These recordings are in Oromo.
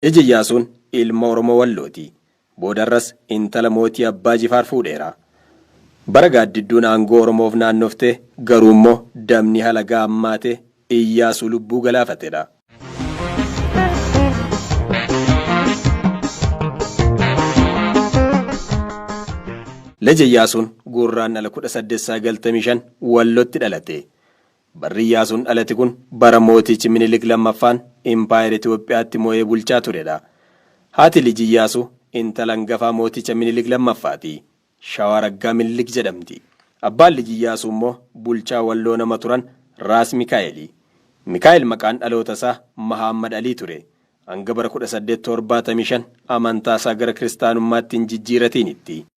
Ija Iyyaasuun ilma Oromoo Wallooti. Boodarras intala mootii Abbaa Jifaar fuudheera. Bara Gaaddidduun aangoo Oromoof naannofte garuummoo dabni halagaa hammaate Iyyaasuu lubbuu galaafatedha. Lja Iyyaasuun Gurraandhala 18 95 Wallotti dhalate. Barri Iyyaasuun dhalate kun bara mootichi Minilik 2ffaan Impaayera Itoophiyaatti mo'ee bulchaa turedha. Haati lij Iyyaasuu intala angafaa mooticha Minilik 2ffaati. Shawaa Raggaa Minilik jedhamti. Abbaan lij Iyyaasuu immoo bulchaa Walloo nama turan Raas Mikaa'eeli. Mikaa'el maqaan dhaloota isaa Mahaammad Alii ture. Hanga bara 1875 amantaa isaa gara kiristaanummaatti hin jijjiiratiinitti.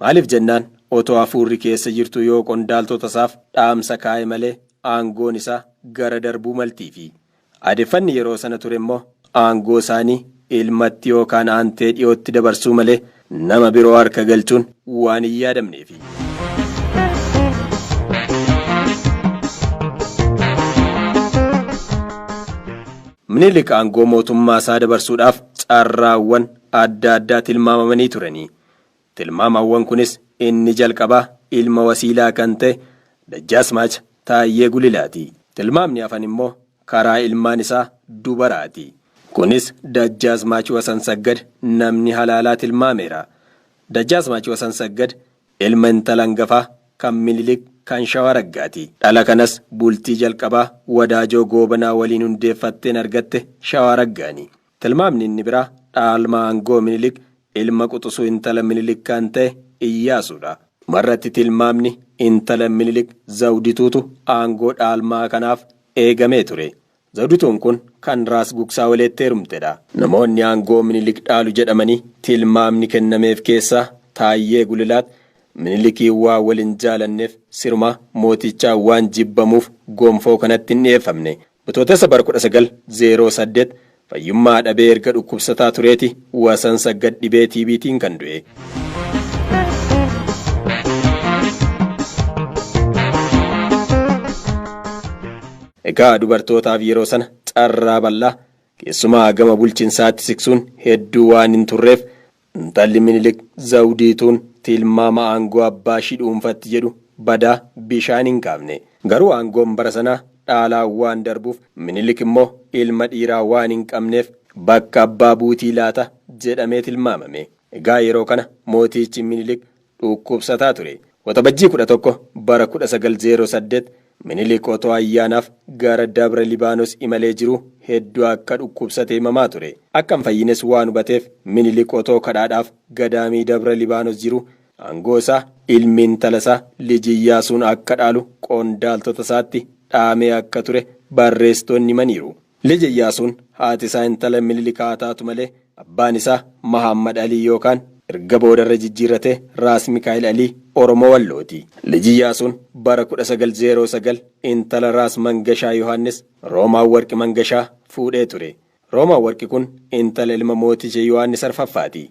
Maaliif jennaan, otoo hafuurri keessa jirtuu yoo qondaaltotasaaf dhaamsa kaa'e malee aangoon isaa gara darbuu maltiifi. Aadeffanni yeroo sana turemmoo aangoo isaanii ilmatti yookaan aantee dhiyootti dabarsuu malee nama biroo harka galchuun waan hin yaadamneefi. Minilik aangoo mootummaasaa dabarsuudhaaf carraawwan adda addaa tilmaamamanii turani. Tilmaamawwan kunis inni jalqabaa ilma wasiilaa kan ta'e Dajjaasmaach Taayyee Gulilaati. Tilmaamni hafan immoo karaa ilmaan isaa dubaraati. Kunis Dajjaasmaach Wasansaggad namni halaalaa tilmaameera. Dajjaasmaach Wasansaggad ilma intala angafaa kan Minilik kan Shawaa Raggaati. Dhala kanas bultii jalqabaa Wadaajoo Goobanaa waliin hundeeffatteen argatte Shawaa Raggaani. Tilmaamni inni biraa dhaalmaa aangoo Minilik Ilma quxusuu intala Minilik kan ta'e Iyyaasuudha. Dhumarratti tilmaamni intala Minilik Zawdituutu aangoo dhaalmaa kanaaf eegamee ture. Zawdituun kun kan Raas Gugsaaweleetti heerumtedha. Namoonni aangoo Minilik dhaalu jedhamanii tilmaamni kennameef keessaa Taayyee Gulilaat Minilikiin waan wal hin jaalanneef sirumaa mootichaan waan jibbamuuf gonfoo kanatti hin dhiyeeffamne. Bitootessa bara 1908 fayyummaa dhabee erga dhukkubsataa tureeti Wasansaggad dhibee TBtiin kan du'e. Egaa dubartootaaf yeroo sana carraa bal'aa keessumaa gama bulchinsaatti siksuun hedduu waan hin turreef Intalli Minilik Zawudiituun tilmaama aangoo abbaa ishii dhuunfatti jedhu badaa bishaan hin qaafne. Garuu aangoon bara sanaa dhaalaan waan darbuuf Minilik immoo ilma dhiiraa waan hin qabneef bakka abbaa buutii laata jedhamee tilmaamame. Egaa yeroo kana mootiichi Minilik dhuukkubsataa ture. Waxabajjii 11 bara 1908 Minilik otoo ayyaanaaf gara Dabra Libaanos imalee jiruu hedduu akka dhukkubsate himamaa ture. Akka hin fayyines waan hubateef Minilik otoo kadhaadhaaf gadaamii Dabra Libaanos jiruu aangoo isaa ilmi intala isaa Lij Iyyaasuun akka dhaalu qondaaltota isaatti dhaamee akka ture barreessitoonni himaniiru. Lij Iyyaasuun haati isaa intala Minilik haa taatu malee abbaan isaa Mahaammad Alii yookaan erga booda irra jijjiirrate Raas Mikaa'il Alii Oromoo Wallooti. Lij Iyyaasuun bara 1909 intala Raas Mangashaa Yohaannis, Roomaawwarqi Mangashaa, fuudhee ture. Roomaawwarqi kun intala ilma mooticha Yohaannis Arfaffaati.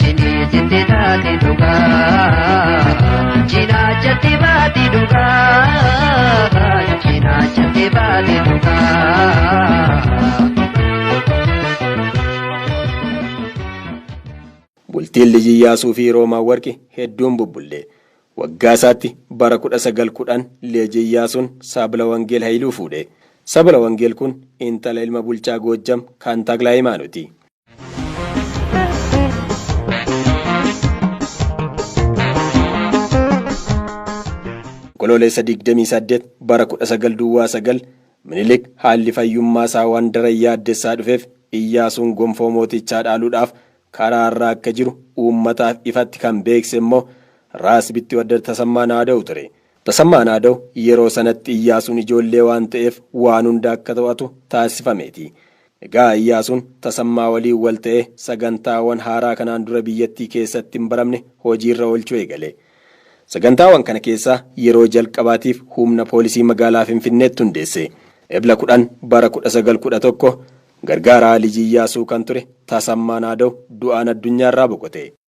Cinii sitti taate dhugaa. Cinaachatti baate dhugaa. Cinaachatti baate dhugaa. Bultiin Lij Iyyaasuu fi Roomaa Warqi hedduun bubbulle. Waggaa isaatti bara 1910 Lij Iyyaasuun Saabla Wangeel Hayiluu fuudhe. Sabla Wangeel kun intala ilma bulchaa Goojjam kan Takla Hayimaanooti. Onkoloolessa 28 bara 19 duwwaa 9 Minilik haalli fayyummaa isaa waan daran yaaddessaa dhufeef Iyyaasuun gonfoo mootichaa dhaaluudhaaf karaa irraa akka jiru uummataaf ifatti kan beekse immoo Raas Bittiwaddar Tasammaa Naada'u ture. Tasammaa Naadaw yeroo sanatti Iyyaasuun ijoollee waan ta'eef waan hunda akka to'atu taasifameeti. Egaa Iyyaasuun Tasammaa waliin wal ta'ee sagantaawan haaraa kanaan dura biyyattii keessatti hin baramne hojiirra oolchuu eegale. Sagantaawan kana keessaa yeroo jalqabaatiif humna poolisii magaalaa Finfinneetti hundeesse. Ebla 10 bara 1911 Gargaaraa Lij Iyyaasuu kan ture Tasammaa Naadaw du'aan addunyaarraa boqote.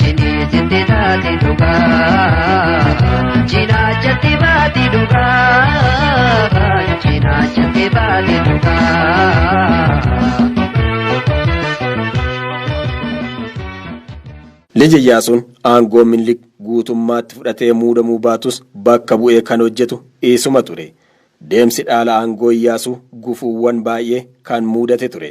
Cinii sitti taati dhugaa. Cinaachatti baati dhugaa. Cinaachatti baati dhugaa. Lij Iyyaasuun aangoo Minilik guutummaatti fudhatee muudamuu baatus bakka bu'ee kan hojjetu isuma ture. Deemsi dhaala aangoo Iyyaasuu gufuuwwan baay'ee kan muudate ture.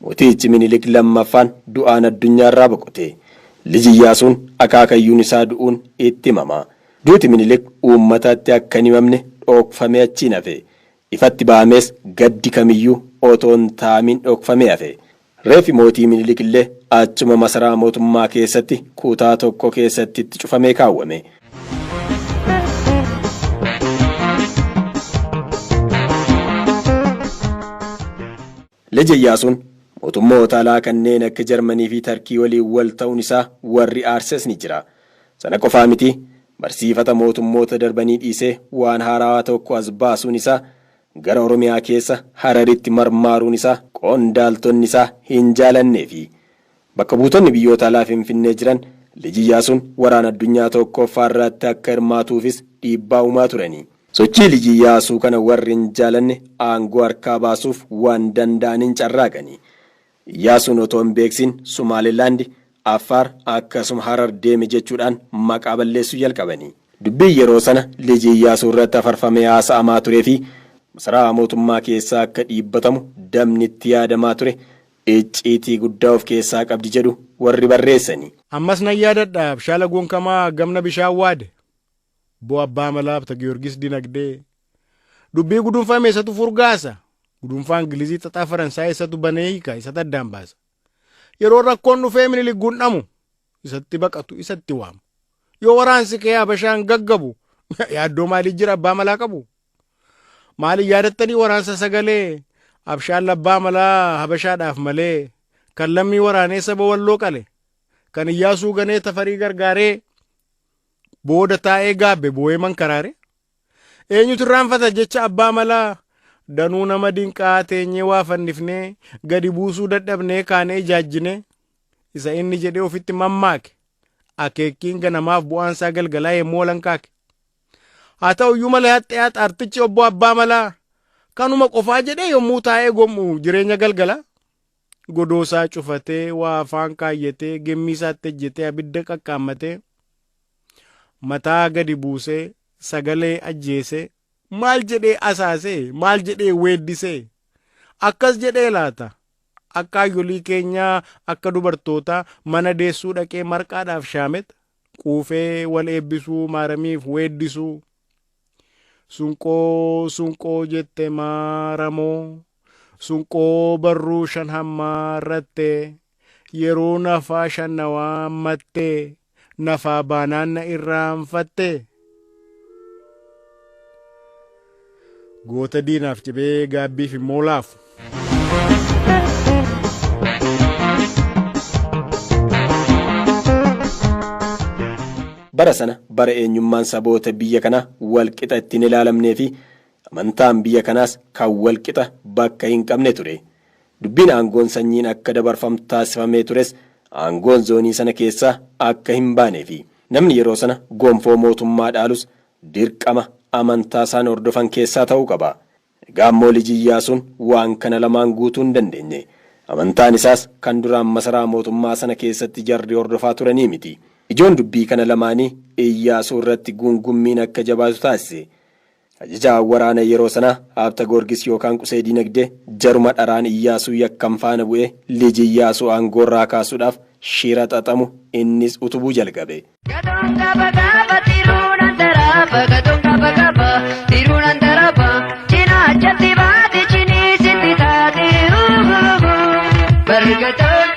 Mootichi Minilik lammaffaan du'aan addunyaarraa boqote. Lij Iyyaasuun akaakayyuun isaa du'uun itti himama. Duuti Minilik uummatatti akka hin himamne dhookfamee achiin hafe. Ifatti bahamees gaddi kamiyyuu otoo hin taa'amiin dhookfamee hafe. Reeffi mootii Minilik illee achuma masaraa mootummaa keessatti kutaa tokko keessatti itti cufamee kaawwame. Lij Iyyaasuun mootummoota alaa kanneen akka Jarmanii fi Tarkii waliin wal ta'uun isaa warri aarses ni jira. Sana qofaa miti, barsiifata mootummoota darbanii dhiisee waan haaraawaa tokko as baasuun isaa gara Oromiyaa keessa Hararitti marmaaruun isaa qondaaltonni isaa hin jaalannee fi Bakka buutonni biyyoota alaa Finfinnee jiran Lij Iyyaasuun Waraana Addunyaa Tookkooffaa irraatti akka hirmaatuufis dhiibbaa uumaa turanii. Sochii Lij Iyyaasuu kana warri hin jaalanne aangoo harkaa baasuuf waan danda'aniin carraaqanii. Iyyaasuun otoo hin beeksiin Sumaalee Laandi, Affaar akkasuma Harar deeme jechuudhaan maqaa balleessuu jalqabanii. Dubbiin yeroo sana Lij Iyyaasuu irratti hafarfamee haasa'amaa turee fi masaraa mootummaa keessaa akka dhiibbatamu dabni itti yaadamaa ture icciitii guddaa of keessaa qabdi jedhu warri barreessani. Ammas nan yaadadha Abshaala Gonkamaa Gamna Bishaan Waade, Bo Abbaa Malaa Habtagiyoorgis Dinagdee, Dubbii Gudunfame isatu furgaasa, Gudunfaa Ingilizii Xaxaa Faransaayii isatu banee hiika, isatu addaan baasa. Yeroo rakkoon dhufee Minilik gundhamu, isatti baqatu, isa itti waamu. Yoo waraansi kee Habashaan gaggabu, yaaddoo maalii jira Abbaa Malaa qabu? Maaliin yaadattanii waraansa sagalee abshaan labbaa malaa habashaadhaaf malee kan lammii waraanee saba walloo qale kan iyyaasuu ganee tafarii gargaaree booda taa'ee gaabbe boo'ee mankaraare eenyutu irraanfata jecha abbaa malaa danuu nama dinqaa teenyee waa fannifnee gadi buusuu dadhabnee kaanee ijaajjinee isa inni jedhee ofitti mammaake akeekkiin ganamaaf bu'aansaa galgalaa yemmuu walankaake. Haa ta'u iyyuu malee haxxeyaa xaartichi obbo Abbaa Malaa kanuma qofaa jedhee yommuu taa'ee gom'u jireenya galgala godoosaa cufatee waa afaan kaayyatee gemmiisaatti ejjetee abidda qaqqaammatee mataa gadi buusee sagalee ajjeesee maal jedhee asaasee maal jedhee weeddisee akkas jedhee laata akka hayyolii keenyaa akka dubartootaa mana deessuu dhaqee marqaadhaaf shaamet quufee wal eebbisuu maaramiif weeddisuu sunqoo sunqoo jette maaramoo sunqoo barruu shan hammaa irrattee yeroo nafaa shannawaa ammattee nafaa baanaanna irraanfattee Goota diinaaf cibee gaabbiif immoo laafu. Bara sana bara eenyummaan saboota biyya kanaa walqixa ittiin ilaalamnee fi amantaan biyya kanaas kan walqixa bakka hin qabne ture. Dubbiin aangoon sanyiin akka dabarfamtu taasifamee tures aangoon zoonii sana keessaa akka hin baanee fi namni yeroo sana gonfoo mootummaa dhaalus dirqama amantaa isaan hordofan keessaa ta'uu qaba. Egaa immoo Lij Iyyaasuun waan kana lamaan guutuu hin dandeenye. Amantaan isaas kan duraan masaraa mootummaa sana keessatti jarri hordofaa turanii miti. Ijoon dubbii kana lamaanii Iyyaasuu irratti guungummiin akka jabaatu taasise. Ajajaa waraana yeroo sanaa Haabta Goorgis yookaan Qusee Diinagdee jaruma dharaan Iyyaasuu yakkan faana bu'ee liji Iyyaasuu aangoorraa kaasuudhaaf shira xaxamu innis utubuu jalgabe. Gadoon gaba gaba Tiruu nan daraaba Gadoon gaba gaba Tiruu nan daraaba Cinaachatti baati Ciniisitti taati Uuhuuhuu Barri gadoon.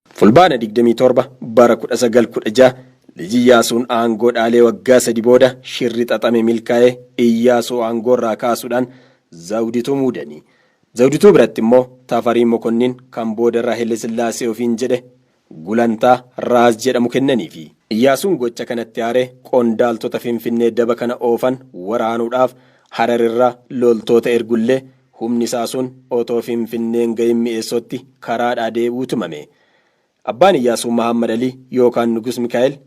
Fulbaana 27 bara 1916 Lij Iyyaasuun aangoo dhaalee waggaa sadi booda shirri xaxame milkaa'ee Iyyaasuu aangoorraa kaasuudhaan Zawudituu muudanii. Zawudituu biratti immoo Tafarii Mokonnin kan boodarra Haile Sillaasee ofiin jedhe gulantaa Raas jedhamu kennaniifi. Iyyaasuun gocha kanatti aaree qondaaltota Finfinnee daba kana oofan waraanuudhaaf Hararirraa loltoota ergullee, Humni isaa sun otoo Finfinnee hin gahin Mi'eessootti karaadhaa deebi'uu tumame. Abbaan Iyyaasuu Mahaammad Alii yookaan Nugus Mikaa'el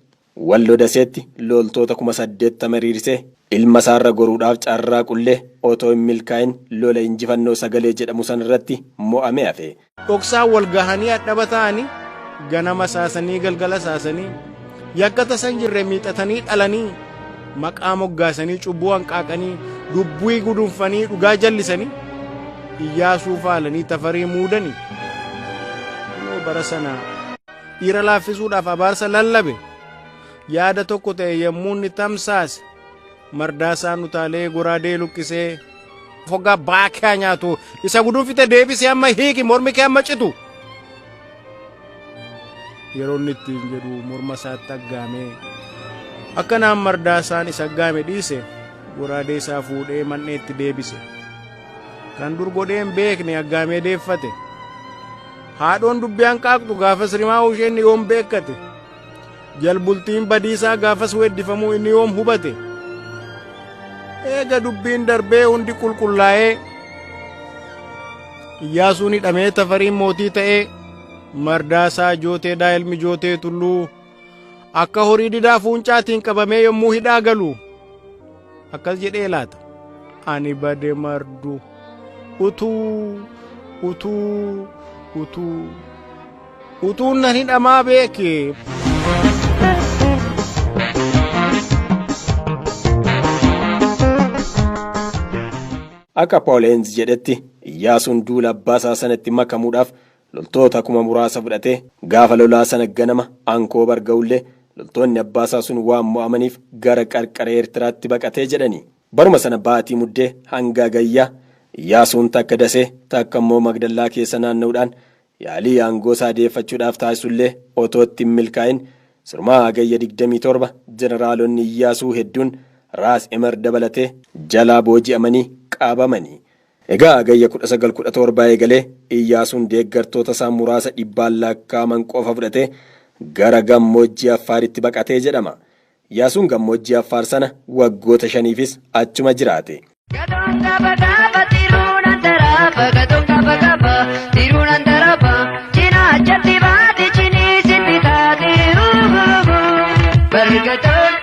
Wallo Daseetti loltoota kuma saddeettama hiriirsee ilma isaa irra goruudhaaf carraaqullee otoo hin milkaa'in lola injifannoo sagalee jedhamu sana irratti mo'amee hafe. Dhoksaan wal gahanii hadhaba ta'anii ganama saasanii galgala saasanii yakka tasan jirre miixatanii dhalanii maqaa moggaasanii cubbuu hanqaaqanii dubbii gudunfanii dhugaa jallisanii iyyaasuu faalanii tafarii muudanii kunoo bara sana dhiira laaffisuudhaaf abaarsa lallabe yaada tokko ta'e yommuu inni tamsaase Mardaasaan utaalee goraadee luqqisee. Fogaa baakaa nyaatu isa gudunfite deebisee amma hiiki mormi kee amma citu. Yeroo inni ittiin jedhu morma isaatti aggaamee. Akkanaan mardaasaan isa aggaame dhiise goraadee isaa fuudhee man'eetti deebise. Kan dur godheen beekne aggaamee deeffate. Haadhoon dubbiyaan qaaqxu gaafas rimaa isheen yoon beekkate. Jalbultiin badiisaa gaafas weeddifamuu inni yoom hubate? Eega dubbiin darbee hundi qulqullaa'ee Iyyaasuun hidhamee Tafariin mootii ta'ee Mardaasaa Jooteedhaa ilmi Jootee Tulluu akka horii didaa fuuncaatiin qabamee yommuu hidhaa galu akkas jedhee laata ani bade mardu utuu utuu utuu utuun nan hidhamaa beeke Akka Paul Heenz jedhetti Iyyaasuun duula abbaa isaa sanatti makamuudhaaf loltoota kuma muraasa fudhatee gaafa lolaa sana ganama Ankoobar ga'ullee loltoonni abbaasaa sun waan mo'amaniif gara qarqara Eertiraatti baqate jedhani. Baruma sana baatii Muddee hanga Hagayyaa Iyyaasuun takka Dasee takka immoo Magdallaa keessa naanna'uudhaan yaalii aangoosaa deeffachuudhaaf taasisullee otoo itti hin milkaa'in sirumaa Hagayya 27 jeneraalonni Iyyaasuu hedduun Raas Imer dabalatee jalaa booji'amanii qabamani. Egaa Hagayya 19, 17 eegalee Iyyaasuun deeggartoota isaa muraasa dhibbaan lakkaa'aman qofa fudhatee gara gammoojjii Affaaritti baqate jedhama. Iyaasuun gammoojjii Affaar sana waggoota shaniifis achuma jiraate. Gadoon gaba gaba tiruun antaraaba Gadoon gaba gaba tiruun antaraaba Cinaachatti baate ciniisitti taate Barri gadoon.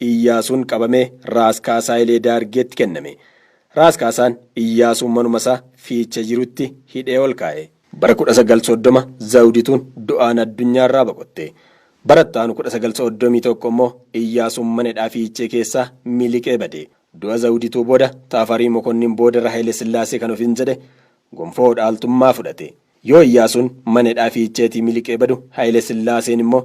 Iyyaasuun qabamee Raas Kaasaa Ilee Daargeetti kenname. Raas Kaasaan Iyyaasuu manumasaa Fiichee jirutti hidhee ol kaa'e. Bara 1930 Zawdituun du'aan addunyaarraa boqotte. Bara itti aanu 1931 immoo Iyyaasuun mana hidhaa Fiichee keessaa miliqee bade. Du'a Zawdituu booda Tafarii Mokonnin boodarra Hayilesillaasee kan ofiin jedhe gonfoo dhaaltummaa fudhate. Yoo Iyyaasuun mana hidhaa Fiicheetii miliqee badu Hayile Sillaaseen immoo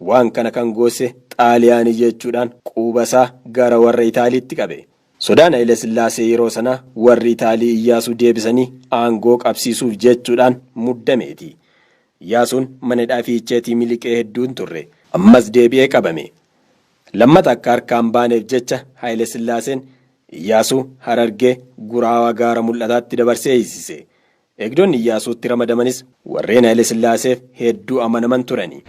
waan kana kan goosse Xaaliyaanii jechuudhaan quuba isaa gara warra Itaaliitti qabe. Sodaan Hayile Sillaasee yeroo sanaa warri Itaalii Iyyaasuu deebisanii aangoo qabsiisuuf jechuudhaan muddameeti. Iyyaasuun mana hidhaa Fiicheetii miliqee hedduu hin turre. Ammas deebi'ee qabame. Lammata akka harkaa hin baaneef jecha Hayile Sillaaseen Iyyaasuu Harargee, Guraawaa Gaara Mul'ataatti dabarsee hiisise. Eegdonni Iyyaasuutti ramadamanis warreen Hayilesillaaseef hedduu amanaman turani.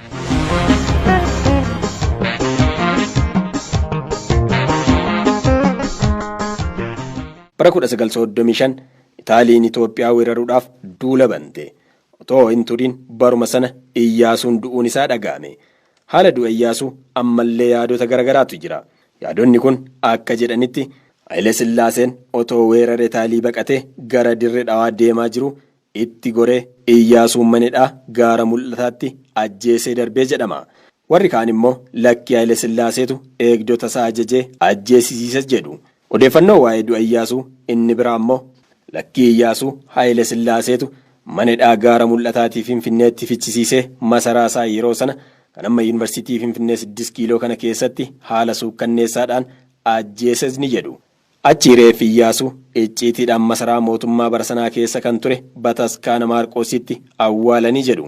Bara 1935 Itaaliin Itoophiyaa weeraruudhaaf duula bante. Otoo hin turin baruma sana Iyyaasuun du'uun isaa dhaga'ame. Haala du'a Iyyaasuu ammallee yaadota garagaraatu jira. Yaadonni kun akka jedhanitti, Hayilesillaaseen otoo weerare Taalii baqatee gara Dirre Dhawaa deemaa jiruu itti goree Iyyaasuu Manedhaa gaara Mul'ataatti ajjeesee darbee jedhama. Warri kaan immoo lakkii Hayilesilaaseetu eegdotasaa ajajee ajjeesisiise jedhu. Odeeffannoo waa'ee du'a Iyyaasuu inni biraa ammoo, Lakkii Iyyaasuu Haayile Sillaaseetu mana hidhaa Gaara Mul'ataatii Finfinneetti fichisiisee masaraa isaa yeroo sana kan amma Yuunivarsiitii Finfinnee Siddist Kiiloo kana keessatti haala suukkanneessaadhaan ajjeesesni jedhu. Achii reeffi Iyyaasuu icciitiidhaan masaraa mootummaa bara sanaa keessa kan ture Bataskaana Maarqoositti awwaalani jedhu.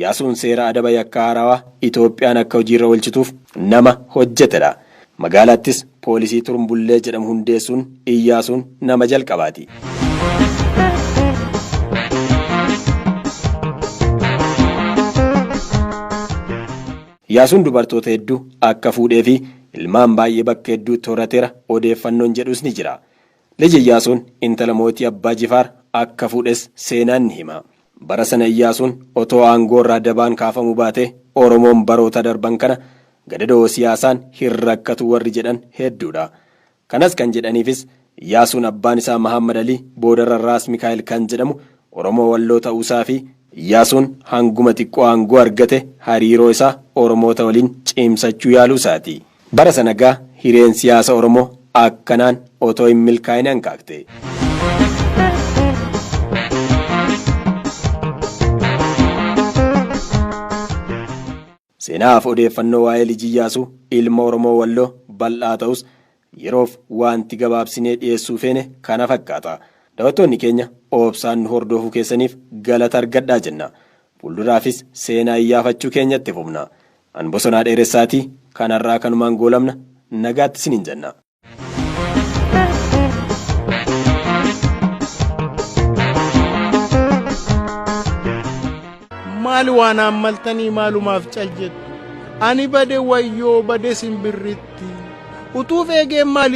Yaasuun seera adaba yakkaa haarawaa Itoophiyaan akka hojiirra oolchituuf nama hojjetedha. Magaalaattis poolisii Turmbullee jedhamu hundeessuun Iyyaasuun nama jalqabaati. Yaasuun dubartoota heddu akka fuudheefi ilmaan baay'ee bakka hedduutti horatera odeeffannoon jedhus ni jira. Lij Iyyaasuun intala mootii Abbaa Jifaar akka fuudhes seenaan ni hima. Bara sana Iyyaasuun otoo aangoorraa dabaan kaafamuu baatee Oromoon baroota darban kana gadadoo siyaasaan hin rakkatu warri jedhan hedduudha. Kanas kan jedhaniifis Iyyaasuun abbaan isaa Mahaammad Alii boodarra Raas Mikaa'el kan jedhamu Oromoo Walloo ta'uusaafi. Iyyaasuun hanguma xiqqoo aangoo argate hariiroo isaa Oromoota waliin cimsachuu yaaluusaati. Bara sana gaa hireen siyaasa Oromoo akkanaan otoo hin milkaa'in hanqaaqxe. Seenaa fi odeeffannoo waa'ee Lij Iyyaasuu ilma Oromoo Walloo bal'aa ta'us yeroof waanti gabaabsinee dhiyeessuu feene kana fakkaata. Dawattoonni keenya oobsaan nu hordoofuu keessaniif galata argadhaa jenna. Fuulduraafis seenaa iyyaafachuu keenya itti fufna. An Bosonaa Dheeressaati. Kan har'aa kanumaan goolabna. Nagaatti isiniin jenna. maal waan haammaltanii maalumaaf cal jettu ani bade wayyoo bade simbirritti utuuf eegeen maali